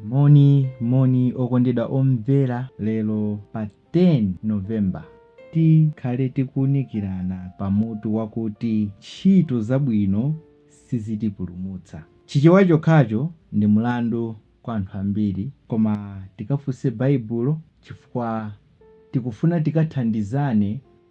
moni moni okondedwa omvera lero pa 10 novemba tikhale tikuunikirana pa mutu wakuti ntchito zabwino sizitipulumutsa chichewa chokhacho ndi mlandu kwa anthu ambiri koma tikafunse baibulo chifukwa tikufuna tikathandizane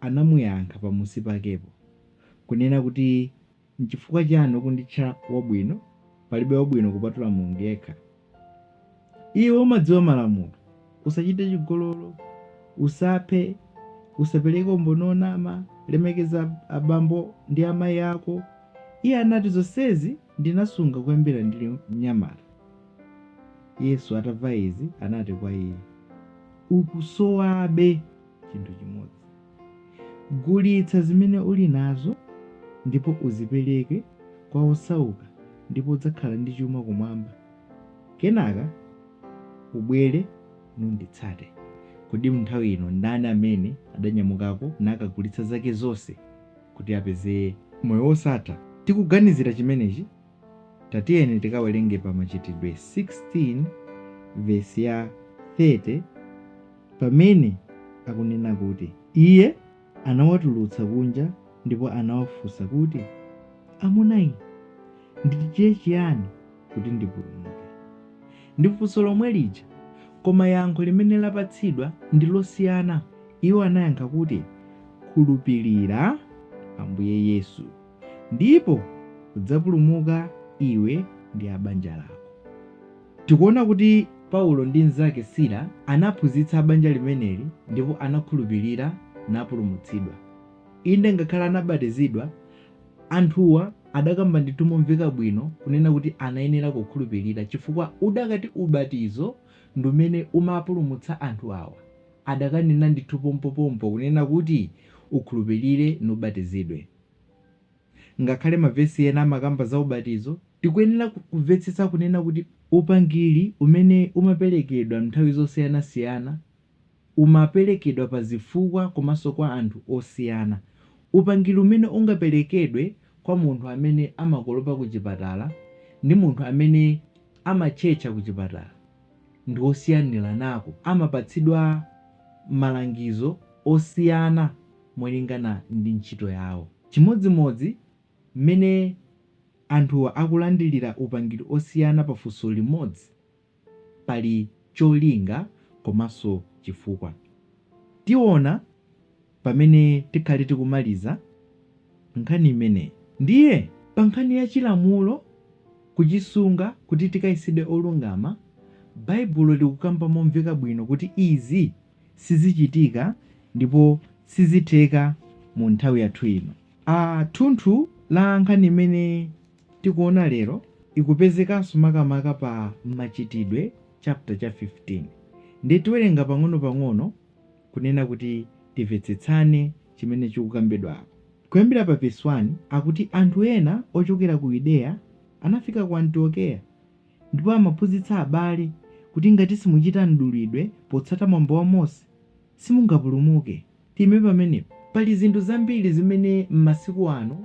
anamuyankha pamusi pakepo, kunena kuti, N'chifukwa chiyani ukunditcha wabwino? Palibe wabwino kupatula Mulungu yekha. Iwe umadziwa malamulo, Usachite chigololo, Usaphe, Usapereke umboni wonama, Lemekeza abambo ndi amayi ako. Iye anati, Zonsezi ndinasunga kuyambira ndili mnyamata. Yesu atamva izi anati kwa iye, Ukusowabe. chinthu chimodzi. Gulitsa zimene uli nazo ndipo uzipereke kwa osauka ndipo udzakhala ndi chuma kumwamba. Kenaka ubwere nunditsate. Kodi m'nthawi ino ndani amene adanyamukako nakagulitsa zake zonse kuti apeze moyo wosatha? Tikuganizira chimenechi Tatiyeni tikawerenge pa Machitidwe 16:30 pamene akunena kuti iye anawatulutsa kunja ndipo anawafunsa kuti, Amuna inu, ndichite chiyani kuti ndipulumuke? Ndi funso lomwe lija, koma yankho limene lapatsidwa ndi losiyana. Iwo anayankha kuti, Khulupirira Ambuye Yesu. Ndipo udzapulumuka iwe ndi a banja lako. Tikuona kuti Paulo ndi mnzake Sila anaphunzitsa a banja limeneli ndipo anakhulupirira napulumutsidwa. Inde ngakhale anabatizidwa, anthuwa adakamba ndithu momveka bwino kunena kuti anayenera kukhulupirira chifukwa udakati ubatizo ndi umene umapulumutsa anthu awa, adakanena ndithu pompopompo kunena kuti ukhulupirire nubatizidwe. Ngakhale mavesi ena amakamba za ubatizo, tikuyenera kuvetsetsa kunena kuti upangiri umene umaperekedwa mnthawi zosiyanasiyana umaperekedwa pa zifukwa komanso kwa anthu osiyana. Upangiri umene ungaperekedwe kwa munthu amene amakolopa ku chipatala ndi munthu amene amatchetcha ku chipatala ndi osiyaniranako, amapatsidwa malangizo osiyana. molingana ndi ntchito yawo. Chimodzimodzi mmene anthuwa akulandilira upangiri osiyana pa funso limodzi, pali cholinga komanso chifukwa. Tiona pamene tikhale tikumaliza nkhani imeneyi. Ndiye pa nkhani ya chilamulo kuchisunga kuti tikayesedwe olungama, Baibulo likukamba momveka bwino kuti izi. sizichitika ndipo sizitheka mu nthawi yathu ino. Thunthu la nkhani imene tikuona lero ikupezekanso makamaka pa Machitidwe chapter cha 15. Ndiye tiwerenga pang'ono pang'ono kunena kuti timvetsetsane chimene chikukambidwa apa. Kuyambira pa vesi 1 akuti anthu ena ochokera ku Yudeya anafika ku Antiokeya. Ndipo amaphunzitsa abale kuti ngati simuchita mdulidwe potsata mwambo wa Mose, simungapulumuke. Tiime pamenepo. Pali zinthu zambiri zimene m'masiku ano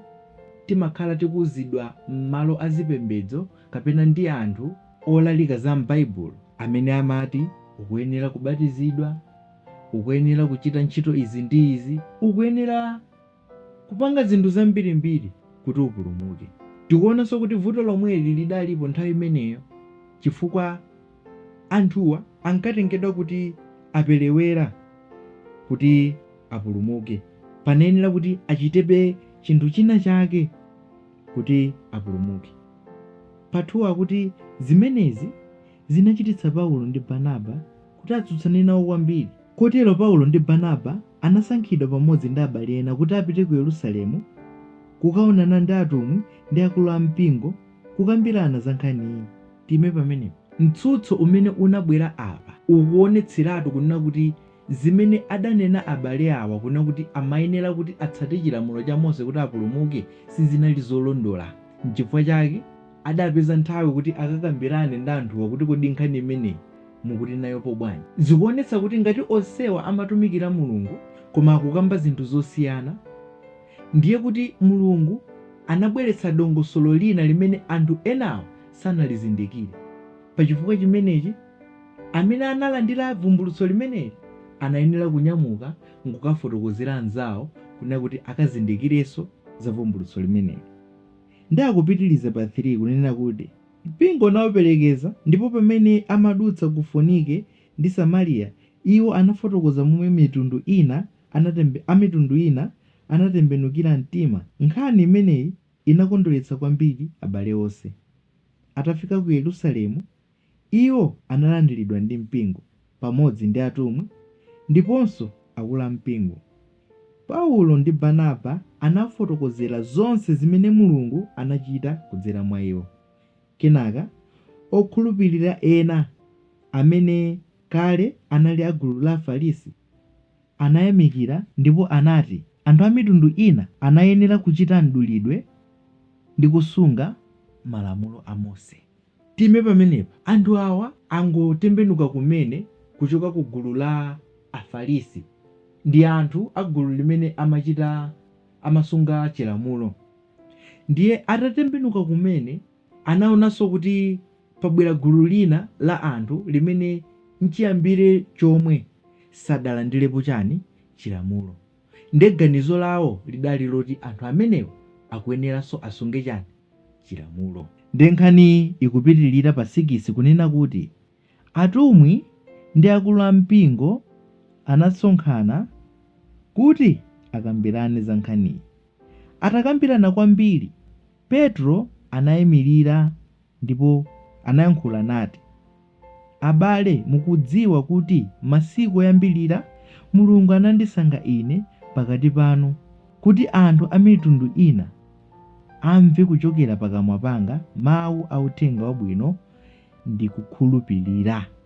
timakhala tikuuzidwa m'malo a zipembedzo kapena ndi anthu olalika za m'Baibulo amene amati, ukuyenera kubatizidwa, ukuyenera kuchita ntchito izi ndi izi, ukuyenera. kupanga zinthu zambirimbiri kuti upulumuke. Tikuonanso kuti vuto lomweli lidalipo nthawi imeneyo chifukwa anthuwa ankatengedwa kuti aperewera kuti apulumuke. Panayenera kuti achitebe chinthu china chake kuti apulumuke. Pa 2 akuti, Zimenezi zinachititsa Paulo ndi Barnaba kuti atsutsane nawo kwambiri. Kotero Paulo ndi Barnaba anasankhidwa pamodzi ndi abale ena kuti apite ku Yerusalemu kukaonana ndi atumwi ndi akulu a mpingo kukambirana za nkhaniyi. Tiime pamenepo. Mtsutso umene unabwera apa ukuonetseratu kunena kuti zimene adanena abale awa kunena kuti amayenera kuti atsate chilamulo cha Mose kuti apulumuke sizinali zolondola. Nchifukwa chake adapeza nthawi kuti akakambirane ndi anthuwa kuti kodi nkhani imeneyi mukuti nayopo bwanji? Zikuonetsa kuti ngati onsewa amatumikira Mulungu koma akukamba zinthu zosiyana, ndiye kuti Mulungu anabweretsa dongosolo lina limene anthu enawo sanalizindikire. Pa chifukwa chimenechi, amene analandira vumbulutso limeneli anayenera kunyamuka n'kukafotokozera anzawo kunena kuti akazindikirenso za vumbulutso limeneli. Ndiye akupitiriza pa 3 kunena kuti. Mpingo unawaperekeza, ndipo pamene amadutsa ku Fonike ndi Samariya, iwo anafotokoza momwe mitundu ina anatembe, amitundu ina anatembenukira mtima. Nkhani imeneyi inakondweretsa kwambiri abale onse. Atafika ku Yerusalemu, iwo analandiridwa ndi mpingo. pamodzi ndi atumwi ndiponso akulu a mpingo. Paulo ndi Barnaba anafotokozera zonse zimene Mulungu anachita kudzera mwa iwo. Kenaka, okhulupirira ena amene kale anali a gulu la Afarisi anayamikira ndipo anati anthu a mitundu ina anayenera kuchita mdulidwe ndi kusunga Malamulo a Mose. Tiime pamenepa. Anthu awa angotembenuka kumene kuchoka ku gulu la Afarisi ndi anthu a gulu limene amachita, amasunga Chilamulo. Ndiye atatembenuka kumene, anaonanso kuti pabwera gulu lina la anthu limene nchiyambire chomwe sadalandirepo chani? Chilamulo. Ndiye ganizo lawo lidali loti anthu amenewa akuyeneranso asunge chani? Chilamulo. Ndiye nkhaniyi ikupitilira pa sikisi kunena kuti atumwi ndi akulu a mpingo anasonkhana kuti akambirane za nkhaniyi. Atakambirana kwambiri, Petro anaimilira Ndipo anayankhula nati, Abale, mukudziwa kuti masiku oyambirira Mulungu anandisankha ine pakati panu, kuti anthu a mitundu ina amve kuchokera pakamwa panga mawu a uthenga wabwino ndi kukhulupilira.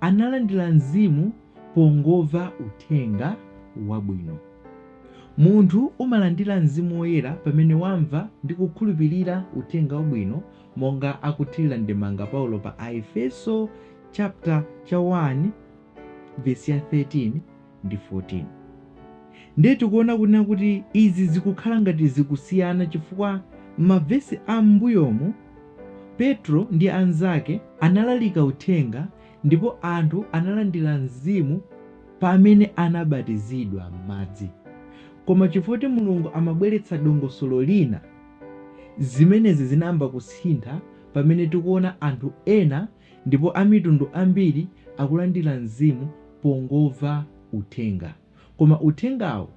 analandira Mzimu pongomva Uthenga Wabwino. Munthu umalandira Mzimu Woyera pamene wamva ndi kukhulupilira Uthenga Wabwino monga akuthilira ndemanga Paulo pa Aefeso chapter 1 vesi 13, ndi 14. Ndiye tikuona kunena kuti izi zikukhala ngati zikusiyana chifukwa m'mavesi a m'mbuyomu, Petro ndi anzake analalika uthenga ndipo anthu analandira Mzimu pamene anabatizidwa m'madzi. Koma chifukwa choti Mulungu amabweretsa dongosolo lina, zimenezi zinayamba kusintha pamene tikuona anthu ena Ndipo amitundu ambiri akulandira Mzimu pongomva Uthenga. Koma Uthengawo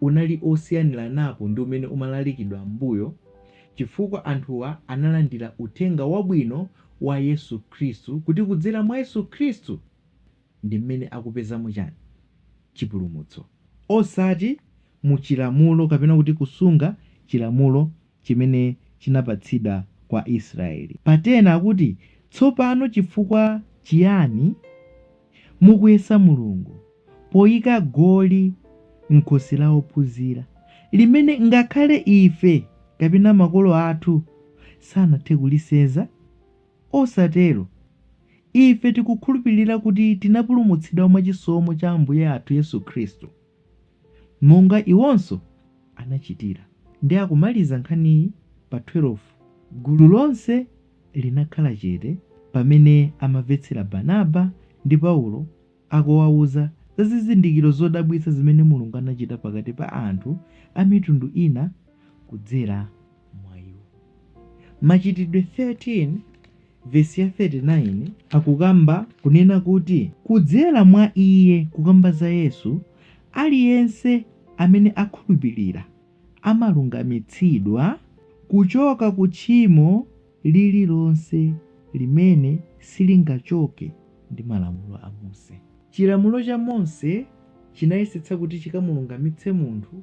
unali osiyaniranapo ndi umene umalalikidwa m'mbuyo chifukwa anthuwa analandira Uthenga Wabwino wa Yesu Khristu kuti kudzera mwa Yesu Khristu ndi m'mene akupezamo chani? Chipulumutso. Osati mu chilamulo kapena kuti kusunga chilamulo chimene chinapatsidwa kwa Israeli. Pa 10 akuti, Tsopano chifukwa chiyani mukuyesa Mulungu poyika goli m'khosi la ophunzira, limene ngakhale ife kapena makolo athu sanathe kulisenza? Osatero! Ife tikukhulupirira kuti tinapulumutsidwa mwa chisomo cha Ambuye athu Yesu Khristu. monga iwonso anachitira. Ndi akumaliza nkhaniyi pa 12, gulu lonse linakhala chete pamene amamvetsera Barnaba ndi Paulo akuwauza za zizindikiro zodabwitsa zimene Mulungu anachita pakati pa anthu a mitundu ina kudzera mwa iwo machitidwe 13 vesi ya 39 akukamba kunena kuti kudzera mwa iye kukamba za yesu aliyense amene akhulupirira amalungamitsidwa kuchoka ku tchimo lililonse limene silingachoke ndi malamulo a mose chilamulo cha mose chinayesetsa kuti chikamulungamitse munthu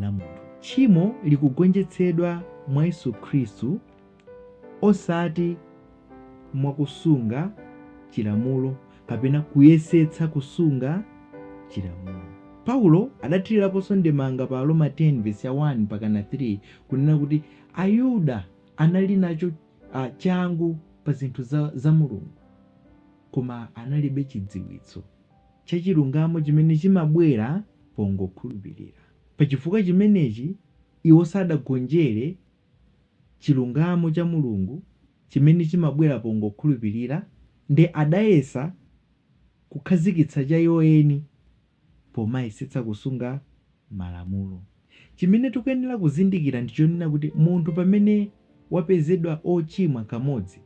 la munthu. Tchimo likugonjetsedwa mwa Yesu Khristu osati mwa kusunga chilamulo kapena kuyesetsa kusunga chilamulo. Paulo adathiriraponso ndemanga pa Aroma 10 vesi ya 1 mpakana 3 kunena kuti Ayuda anali nacho a, changu pa zinthu za, za Mulungu koma analibe chidziwitso. cha chilungamo chimene chimabwera pongokhulupirira. Pa chifukwa chimenechi, iwo sadagonjere chilungamo cha Mulungu chimene chimabwera pongokhulupirira ndi adayesa kukhazikitsa cha iwo eni pomayesetsa kusunga malamulo. Chimene tikuyenera kuzindikira ndi chonena kuti munthu pamene wapezedwa ochimwa kamodzi,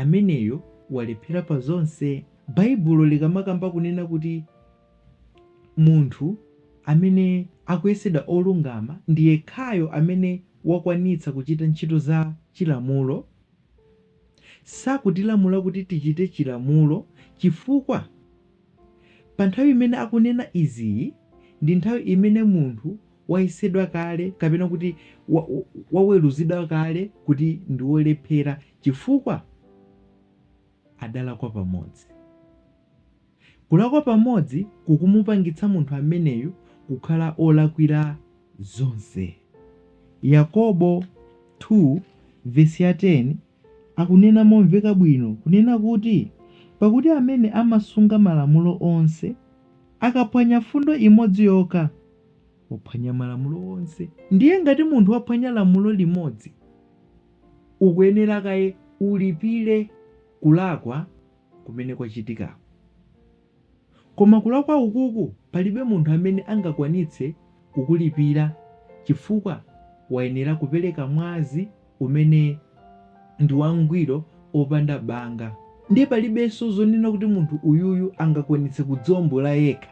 ameneyo walephera pa zonse. Baibulo likamakamba kunena kuti munthu amene akuyesedwa olungama ndi yekhayo amene wakwanitsa kuchita ntchito za chilamulo, sakutilamula kuti tichite chilamulo chifukwa. Pa nthawi imene akunena iziyi ndi nthawi imene munthu wayesedwa kale kapena kuti waweruzidwa kale kuti ndi wolephera chifukwa adalakwa pamodzi. Kulakwa pamodzi kukumupangitsa munthu ameneyu kukhala olakwira zonse. Yakobo 2 vesi ya 10. akunena momveka bwino, kunena kuti, Pakuti amene amasunga malamulo onse, akaphwanya fundo imodzi yokha, waphwanya malamulo onse. Ndiye ngati munthu waphwanya lamulo limodzi, ukuyenera kaye ulipire kulakwa kumene kwachitikako. Koma kulakwa ukuku palibe munthu amene angakwanitse kukulipira chifukwa wayenera kupereka mwazi umene ndi wangwiro opanda banga. Ndiye palibenso zonena kuti munthu uyuyu angakwanitse kudziombola yekha.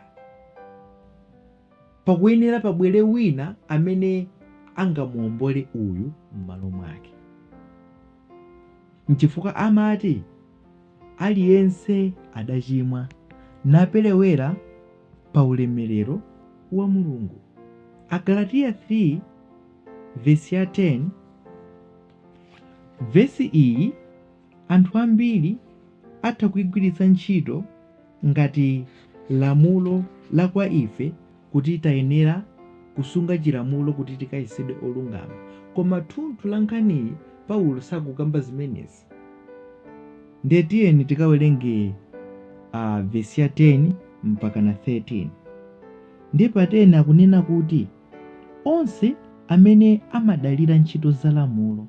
Pakuyenera pabwere wina amene angamuombole uyu m'malo mwake. N'chifukwa amati. Aliyense adachimwa, naperewera pa ulemerero wa Mulungu. Agalatiya 3 vesi ya 10 Vesi iyi anthu ambiri atha kuigwiritsa ntchito ngati lamulo la kwa ife kuti tayenera kusunga chilamulo kuti tikayesedwe olungama. Koma thunthu la nkhaniyi Paulo sakukamba zimenezi. ndiye tiyeni tikawerenge a vesi ya 10 mpaka na 13 ndiye pa 10 akunena kuti onse amene amadalira ntchito za lamulo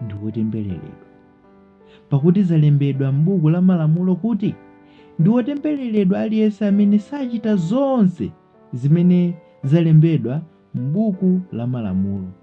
ndi wotembereredwa pakuti zalembedwa m'buku la malamulo kuti ndi wotembereredwa aliyense amene sachita zonse zimene zalembedwa m'buku la malamulo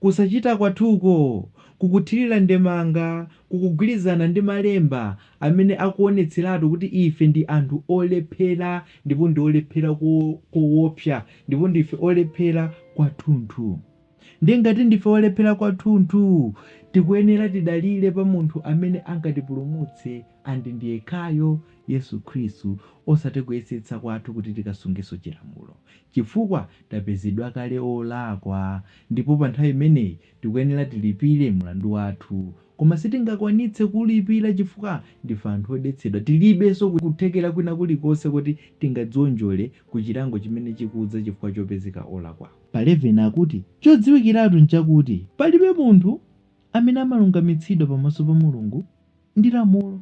Kusachita kwathuko kukuthirira ndemanga kukugwirizana ndi Malemba amene akuwonetseratu kuti ife ndi anthu olephera ndipo ndi olephera kowopsa, ndipo ndife olephera kwathunthu. Ndiye ngati ndife olephera kwathunthu, tikuyenera tidalire pa Munthu amene angatipulumutse. and ndiyekhayo Yesu Khristu osati kuyesetsa kwathu kuti tikasungenso chilamulo chifukwa tapezedwa kale olakwa ndipo panthawi imeneyi tikuyenera tilipire mlandu wathu koma sitingakwanitse kuulipira chifukwa ndife anthu odetsedwa tilibenso kuthekera kwina kulikonse kuti tingadzionjole kuchilango chimene chikudza chifukwa chopezeka olakwa pa 11 akuti chodziwikiratu nchakuti palibe munthu amene amalungamitsidwa pamaso pa Mulungu ndi lamulo,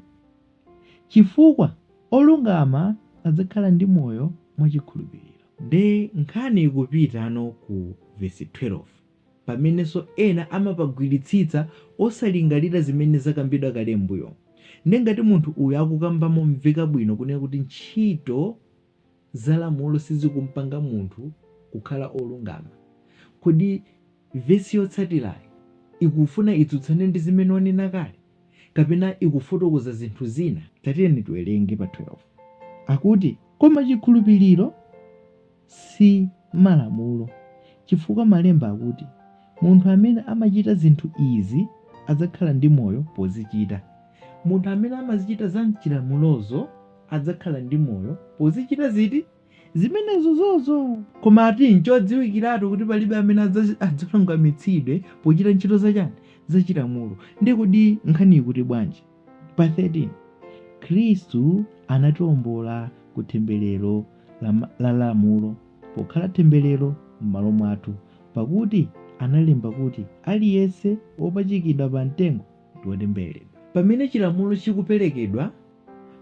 chifukwa olungama adzakhala ndi moyo mwa chikhulupiriro. Nde nkhani ikupitano ku vesi 12 pamenenso ena amapagwiritsitsa osalingalira zimene zakambidwa kale m'mbuyo. Nde ngati munthu uyu akukamba momveka bwino kunena kuti ntchito. za lamulo sizikumpanga munthu kukhala olungama. Kodi vesi yotsatirayi ikufuna itsutsane ndi zimene wanena kale, kapena ikufotokoza zinthu zina? Tatiyeni tiwerenge pa 12. Akuti, Koma chikhulupiriro si malamulo, chifukwa malemba akuti, Munthu amene amachita zinthu izi adzakhala ndi moyo pozichita. Munthu amene amazichita za m'chilamulozo adzakhala ndi moyo pozichita ziti? Zimenezozozo! Koma ati n'chodziwikiratu kuti palibe amene adzalungamitsidwe pochita ntchito za chani? Za chilamulo. Nde kodi nkhani ikuti bwanji? Pa 13, Khristu anatiombola ku temberero la lamulo pokhala temberero m'malo mwathu, pakuti analemba kuti, Aliyense wopachikidwa pa mtengo. wotembereredwa. Pamene chilamulo chikuperekedwa,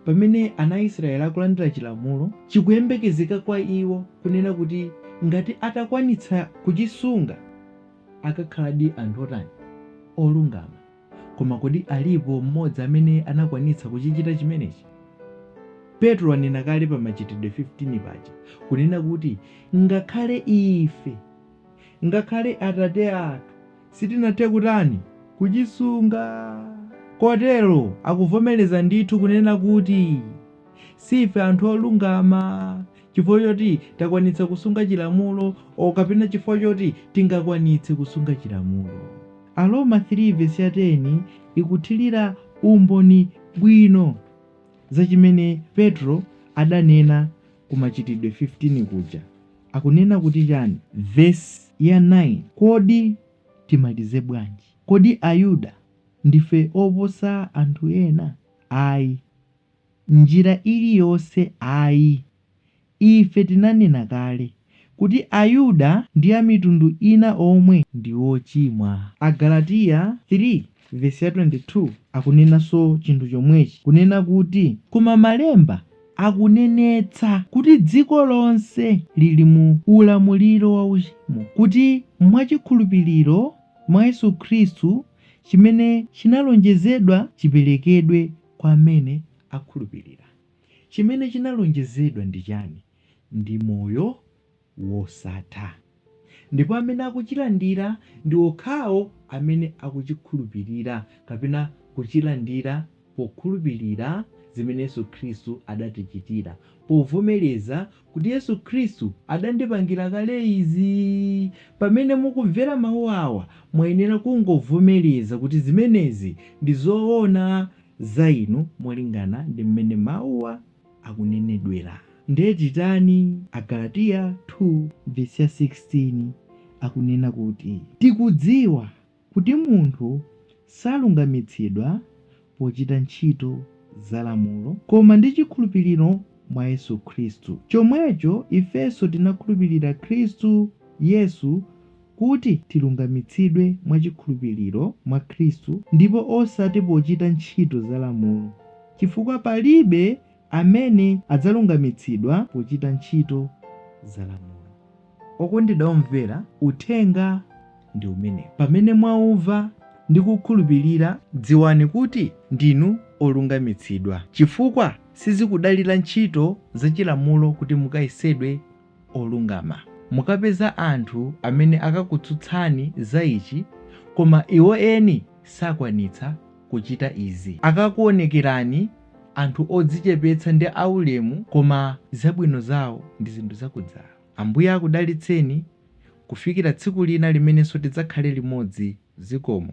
pamene ana a Israeli akulandira chilamulo, chikuyembekezeka kwa iwo kunena kuti ngati atakwanitsa kuchisunga akakhaladi anthu otani? Olungama. Koma kodi alipo m'modzi amene anakwanitsa kuchichita chimenechi? Petro ananena kale pa Machitidwe 15 paja kunena kuti ngakhale ife. Ngakhale atate athu sitinathe kutani? kuchisunga. Kotero akuvomereza ndithu kunena kuti si ife anthu olungama chifukwa choti takwanitsa kusunga chilamulo or kapena chifukwa choti tingakwanitse kusunga chilamulo. Aroma 3 vesi ya 10 ikuthirira umboni bwino za chimene Petro adanena ku Machitidwe 15 kuja. akunena kuti chani vesi ya 9 kodi timalize bwanji kodi ayuda ndife oposa anthu ena ayi mnjira iliyonse ayi ife tinanena kale kuti ayuda ndi amitundu ina omwe ndi ochimwa agalatiya 3. Vesi ya 22 akunenanso chinthu chomwechi, kunena kuti, Koma Malemba akunenetsa kuti dziko lonse lili mu ulamuliro wa uchimo, kuti mwa chikhulupiriro mwa Yesu Khristu chimene chinalonjezedwa chiperekedwe kwa amene akhulupirira. Chimene chinalonjezedwa ndi chani? Ndi moyo wosatha. Ndipo amene akuchilandira ndi okhawo amene akuchikhulupirira kapena kuchilandira pokhulupirira zimene Yesu Khristu adatichitira, povomereza kuti Yesu Khristu adandipangira kale izi. Pamene mukumvera mawu awa, mwayenera kungovomereza kuti zimenezi ndi zoona za inu molingana ndi mmene mawuwa akunenedwera. Nde titani? Agalatiya 2 vesi ya 16 akunena kuti, Tikudziwa kuti munthu salungamitsidwa pochita ntchito za lamulo, koma ndi chikhulupiriro mwa Yesu Khristu. Chomwecho ifenso tinakhulupirira Khristu Yesu kuti tilungamitsidwe mwa chikhulupiriro mwa Khristu ndipo osati pochita ntchito za lamulo, chifukwa palibe amene adzalungamitsidwa pochita ntchito za lamulo. Okondedwa omvera, uthenga ndi umenewu. Pamene mwaumva ndi kuukhulupirira, dziwani kuti ndinu olungamitsidwa, chifukwa sizikudalira ntchito za chilamulo kuti mukayesedwe olungama. Mukapeza anthu amene akakutsutsani za ichi koma iwo eni sakwanitsa kuchita izi. Akakuonekerani anthu odzichepetsa ndi aulemu koma zabwino zawo ndi zinthu zakudzala. Ambuye akudalitseni kufikira tsiku lina limenenso tidzakhale limodzi. Zikomo.